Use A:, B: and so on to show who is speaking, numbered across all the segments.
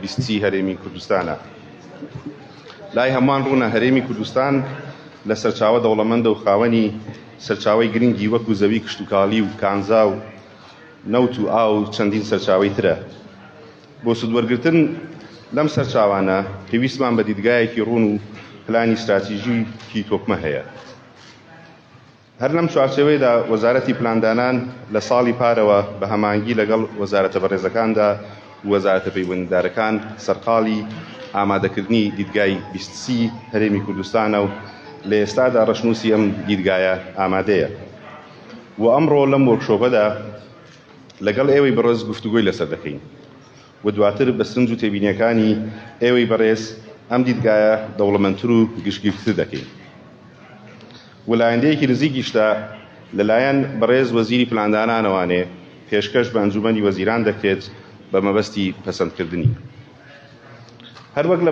A: بیستی هەرێمی کوردستانە. لای هەمووان ڕوونە هەرێمی کوردستان لە سەرچاوە دەوڵەمەندە و خاوەنی سەرچاوەی گرنگی وەکو زەوی کشتوکاڵی و کانزا و نەوت و ئاو و چەندین سەرچاوەی ترە. بۆ سوودوەرگرتن لەم سەرچاوانە پێویستمان بە دیدگایەکی ڕوون و پلانی ستراتیژیکی تۆکمە هەیە. هەر لەم چوارچێوەیەدا وەزارەتی پلاندانان لە ساڵی پارەوە بە هەماهەنگی لەگەڵ وەزارەتە بەڕێزەکاندا و وەزارەتە پەیوەندیدارەکان سەرقاڵی ئامادەکردنی دیدگای بیست سی هەرێمی کوردستانە و لە ئێستادا ڕەشنووسی ئەم دیدگایە ئامادەیە و ئەمڕۆ لەم وۆرکشۆپەدا لەگەڵ ئێوەی بەڕێز گفتوگۆی لەسەر دەکەین. و دواتر بە سەرنج و تێبینییەکانی ئێوەی بەڕێز ئەم دیدگایە دەوڵەمەندتر و گشتگیرتر دەکەین و لایەندەیەکی نزیکیشتە لە لایەن بەڕێز وەزیری پلاندانانەوانێ پێشکەش بە ئەنجوومەنی وەزیران دەکرێت بە مەبەستی پەسەندکردنی هەروەک لە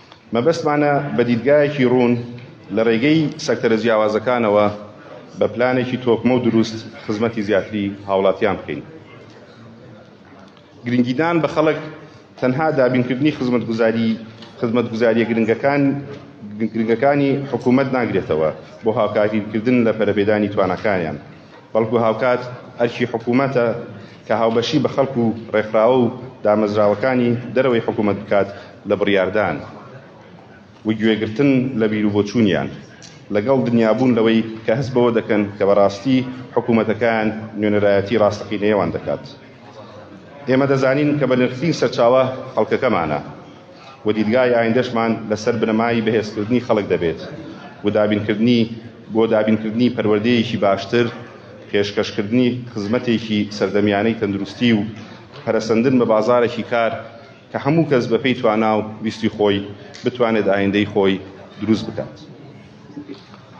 A: مەبەستمانە بە دیدگایەکی ڕوون لە ڕێگەی سەکتەرە جیاوازەکانەوە بە پلانێکی تۆکمە و دروست خزمەتی زیاتری هاوڵاتیان بکەین. گرنگیدان بە خەڵک تەنها دابینکردنی خزمەتگوزاری خزمەتگوزاریە گرنگەکان گرنگەکانی حکوومەت ناگرێتەوە بۆ هاوکاریکردن لە پەرەپێدانی تواناکانیان. بەڵکو هاوکات ئەرکی حکومەتە کە هاوبەشی بە خەڵک و ڕێکخراوە و دامەزراوەکانی دەرەوەی حکومەت بکات لە بڕیاردان و گوێگرتن لە بیروبۆچوونیان لەگەڵ دنیابوون لەوەی کە هەست بەوە دەکەن کە بەڕاستی حکومەتەکان نوێنەرایەتی ڕاستەقینەیەوان دەکات. ئێمە دەزانین کە بەنرخترین سەرچاوە خەڵکەکەمانە. و دیدگای ئایندەشمان لەسەر بنەمای بەهێزکردنی خەڵک دەبێت و دابینکردنی بۆ دابینکردنی پەروەردەیەکی باشتر، پێشکەشکردنی خزمەتێکی سەردەمیانەی تەندروستی و پەرەسەندن بە بازارێکی کار کە هەموو کەس بەپێی توانا و ویستی خۆی بتوانێت ئایندەی خۆی دروست بکات.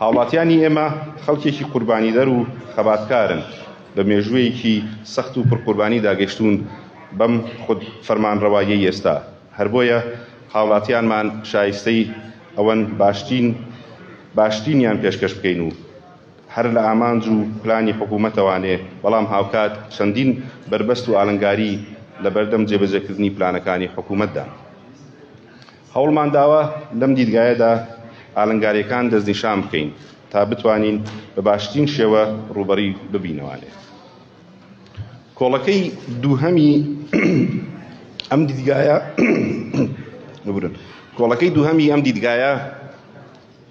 A: هاوڵاتیانی ئێمە خەڵکێکی قوربانیدەر و خەباتکارن بە مێژوویەکی سەخت و پڕ قوربانیدا گەشتوون بەم خود فەرمانڕەواییەی ئێستا، هەر بۆیە هاوڵاتیانمان شایستەی ئەوەن باشترین باشترینیان پێشکەش بکەین و هەر لە ئامانج و پلانی حکوومەتەوانێ، بەڵام هاوکات چەندین بەربەست و ئالنگاری لەبەردەم جێبەجێکردنی پلانەکانی حکوومەتدان. هەوڵمانداوە لەم دیدگایەدا ئالنگاریەکان دەستنیشان بکەین تا بتوانین بە باشترین شێوە ڕووبەری ببینەوانێ. کۆڵەکەی دووهەمی ئەم دیدگایە ببورن کۆڵەکەی دووهەمی ئەم دیدگایە،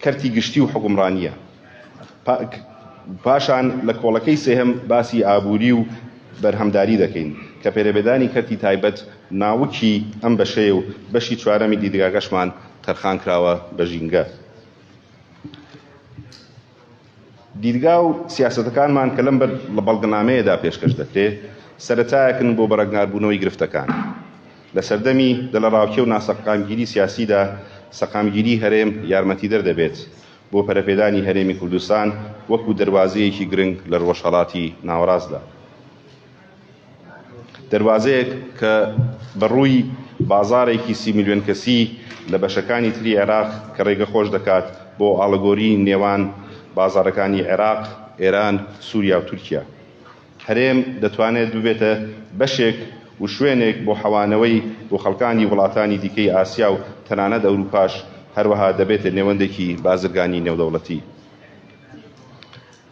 A: کەرتی گشتی و حوکمڕانییە. پاشان لە کۆڵەکەی سێهەم باسی ئابووری و بەرهەمداری دەکەین، کە پێرەبێدانی کەرتی تایبەت ناوکی ئەم بەشەیە و بەشی چوارەمی دیدگاکەشمان تەرخان کراوە بە ژینگە. دیدگا و سیاسەتەکانمان کە لەم بەڵگەنامەیەدا پێشکەش دەکرێ، سەرەتایەکن بۆ بەڕەگناربوونەوەی گرفتەکان. لە سەردەمی دەلەڕاوکێ و ناسەقامگیری سیاسیدا، سەقامگیری هەرێم یارمەتیدەر دەبێت بۆ پەرەپێدانی هەرێمی کوردستان وەکوو دەروازەیەکی گرنگ لە ڕۆژهەڵاتی ناوەڕاستدا. دەروازەیەک کە بە ڕووی بازاڕێکی سی ملیۆن کەسی لە بەشەکانی تری عێراق کە ڕێگە خۆش دەکات بۆ ئاڵگۆری نێوان بازاڕەکانی عێراق، ئێران، سوریا و تورکیا. هەرێم دەتوانێت ببێتە بەشێک و شوێنێک بۆ حەوانەوەی بۆ خەڵکانی وڵاتانی دیکەی ئاسیا و تەنانەت ئەوروپاش، هەروەها دەبێتە نێوەندێکی بازرگانی نێودەوڵەتی.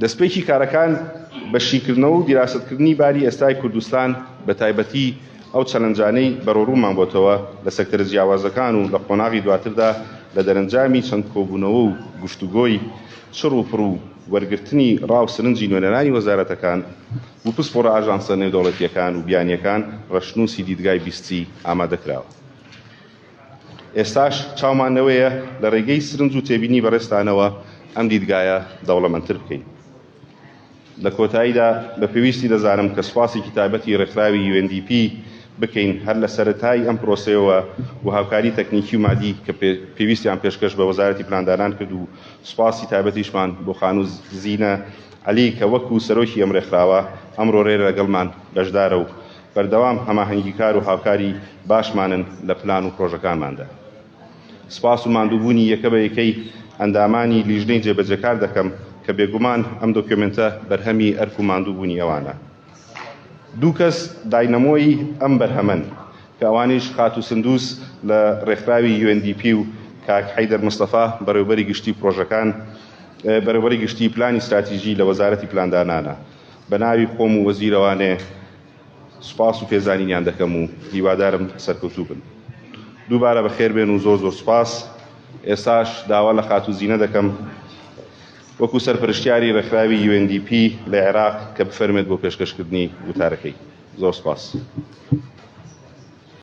A: دەستپێکی کارەکان بە شیکردنەوە و دیراسەتکردنی باری ئێستای کوردستان بە تایبەتی ئەو چەلەنجانەی بەرەوڕوومان بۆتەوە لە سەکتەرە جیاوازەکان و لە قۆناغی دواتردا لە دەرەنجامی چەند کۆبوونەوە و گفتوگۆی چڕ و پڕ و وەرگرتنی ڕا و سرنجی نوێنەرانی وەزارەتەکان و پسپۆڕە ئاژانسە نێودەوڵەتییەکان و بیانییەکان ڕەشنووسی دیدگای بیستی ئامادە کراوە. ئێستاش چاومان لەوەیە لە ڕێگەی سرنج و تێبینی بەڕێزتانەوە ئەم دیدگایە دەوڵەمەندتر بکەین. لە کۆتاییدا بە پێویستی دەزانم کە سوپاسێکی تایبەتی ڕێکخراوی UNDP بکەین هەر لە سەرەتای ئەم پرۆسەیەوە و هاوکاری تەکنیکی و مادی کە پێویستیان پێشکەش بە وەزارەتی پلاندانان کرد و سوپاسی تایبەتیشمان بۆ خانوو زینە عەلی کە وەکو سەرۆکی ئەم ڕێکخراوە ئەمڕۆ رێرە لەگەڵمان بەشدارە و بەردەوام هەماهەنگیکار و هاوکاری باشمانن لە پلان و پرۆژەکانماندا. سپاس و ماندووبوونی یەکە بە یەکەی ئەندامانی لیژنەی جێبەجێکار دەکەم کە بێگومان ئەم دۆکیۆمێنتە بەرهەمی ئەرک و ماندووبوونی ئەوانە. دوو کەس داینەمۆی ئەم بەرهەمەن کە ئەوانیش خاتوو سندوس لە رێکخراوی UNDP و کاک حەیدەر مستەفا بەڕێوەبەری گشتی پرۆژەکان، بەرێوەبەری گشتی پلانی ستراتیژی لە وەزارەتی پلاندانانە. بەناوی خۆم و وەزیرەوانێ سوپاس و پێزانینیان دەکەم و هیوادارم سەرکەوتوو بن. دووبارە بەخێربێن و زۆر زۆر سوپاس. ئێستاش داوا لە خاتوو زینە دەکەم وەکو سەرپەرشتیاری ڕێکخراوی UNDP لە عێراق کە بفەرمێت بۆ پێشکەشکردنی وتارەکەی. زۆر سوپاس.